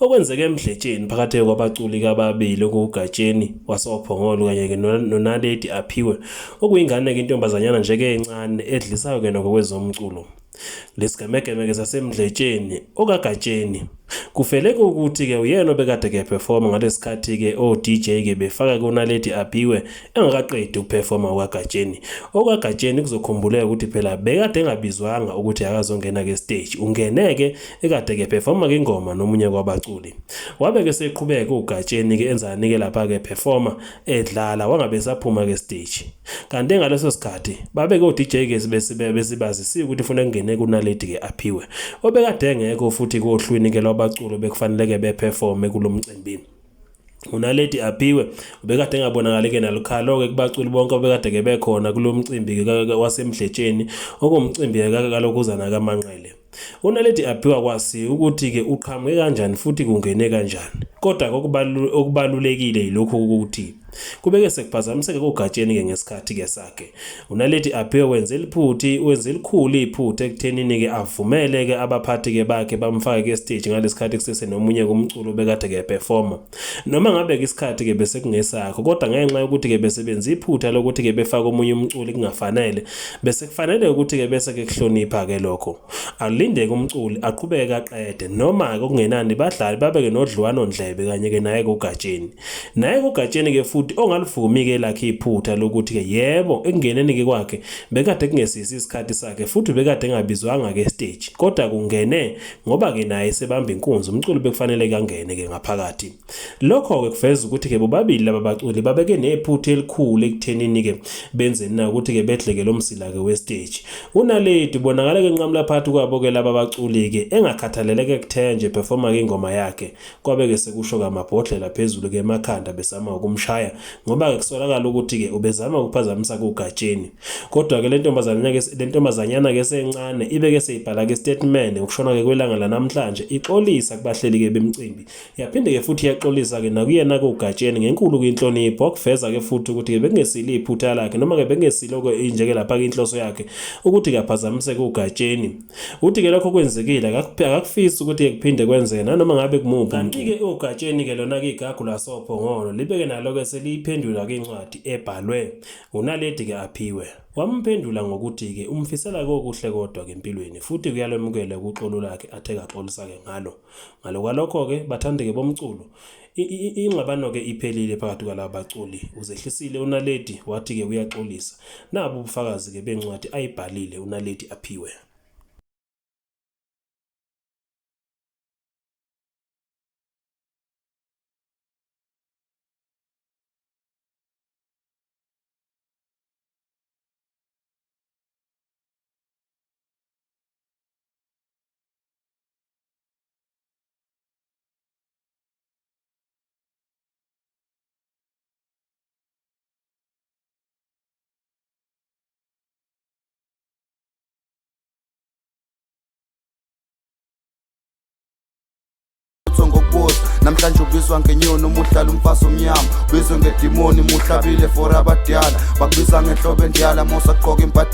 Okwenzeke emdletsheni phakathi kwabaculi kababili okuwuGatsheni wasoPhongolo kanye-ke noNaledi Aphiwe okuyingane-ke intombazanyana nje-ke encane edlisayo kena ngokwezomculo. Lesigemegeme-ke sasemdletsheni okaGatsheni kufeleke ukuthi-ke uyena obekade kephefoma ngalesikhathi-ke o-DJ-ke befaka kuNaledi Aphiwe engakaqedi ukuphefoma okaGatsheni. OkaGatsheni kuzokhumbuleka ukuthi phela bekade engabizwanga ukuthi akazongena-ke stage, ungene-ke ekade ke performa ke ingoma nomunye kwabaculi wabe ke seqhubeka ugatsheni ke enzani ke lapha ke performa edlala wangabe saphuma ke stage kanti ngaleso sikhathi babe ke uDJ ke besibe besibazisiwe ukuthi ufuna kungene kunaledi ke aphiwe obekade engekho futhi kohlwini ke lwabaculo bekufanele ke beperforme kulomcimbi uNaledi Aphiwe ubekade engabonakali-ke nalukhalo-ke kubaculi bonke obekade-ke bekhona kulo mcimbi-ke wasemdletsheni okumcimbi-ke kalokhuzana kamanqele unaledi aphiwa kwasi ukuthi-ke uqhamuke kanjani futhi kungene kanjani kodwa okubalulekile yilokhu ukuthi kubeke sekuphazamiseke kogatsheni-ke ngesikhathi-ke sakhe UNaledi Aphiwe wenze liphuthi wenze elikhulu iphutha ekuthenini ke avumele ke abaphathi ke bakhe bamfake ke stage ngalesikhathi kusese nomunye kumculo bekade ke performa noma ngabe ke isikhathi ke bese kungesakho kodwa ngenxa yokuthi ke besebenza iphutha lokuthi ke befaka omunye umculi kungafanele bese kufanele ukuthi ke bese ke kuhlonipha ke lokho Alindeke umculi aqhubeke aqede noma-ke okungenani badlali babeke nodliwano ndlebe kanye-ke naye kogatsheni. Naye kogatsheni-ke futhi ongalivumi-ke lakhe iphutha lokuthi-ke yebo ekungeneni-ke kwakhe bekade kungesisi isikhathi sakhe futhi bekade engabizwanga-ke esiteji kodwa kungene ngoba-ke naye sebamba inkunzi umculi bekufanele-ke angene-ke ngaphakathi. Lokho-ke kuveza ukuthi-ke bobabili laba baculi babeke nephutha elikhulu ekuthenini-ke benzeni na ukuthi-ke bedleke lo msila-ke westeji. Unaledi ubonakala-ke enqamula phakathi kwabo-ke laba baculi-ke engakhathaleleke kuthena nje performa-ke ingoma yakhe kwabe-ke sekusho-ke amabhodlela phezulu-ke emakhanda besama ukumshaya ngoba-ke kusolakala ukuthi-ke ubezama ukuphazamisa kugatsheni. Kodwa-ke le ntombazanyana-ke sencane ibe-ke seyibhala-ke isitatimende ngokushona-ke kwelanga lanamhlanje ixolisa kubahleli-ke bemcimbi Yaphinde-ke futhi yaxolisa-ke nakuyena-ke uGatsheni ngenkulu kwinhlonipho wakuveza-ke futhi ukuthi-ke bekungesilo iphutha lakhe noma-ke bekungesilo-ke injeke lapha-ke inhloso yakhe ukuthi-ke aphazamiseke uGatsheni. Uthi-ke lokho kwenzekile akakufisi ukuthi-ke kuphinde kwenzeke nanoma ngabe kumuphi. Kanti-ke uGatsheni-ke lona-ke igagu lasophongolo libe-ke nalo-ke seliyiphendula-ke incwadi ebhalwe uNaledi-ke aphiwe. Wamphendula ngokuthi-ke umfisela-ke okuhle kodwa-ke empilweni futhi kuyalwemukela ukuxolo lakhe athe kaxolisa-ke ngalo. Ngale kwalokho-ke, bathandeke bomculo, ingxabano-ke iphelile phakathi kwalaba baculi. Uzehlisile uNaledi wathi-ke uyaxolisa. Nabu ubufakazi-ke bencwadi ayibhalile uNaledi aphiwe. namhlanje ubizwa ngenyoni umuhlala umfazi omnyama ubizwe ngedimoni muhlabile for abadala bakubiza ngenhlobo endiyala mosaqoka impatha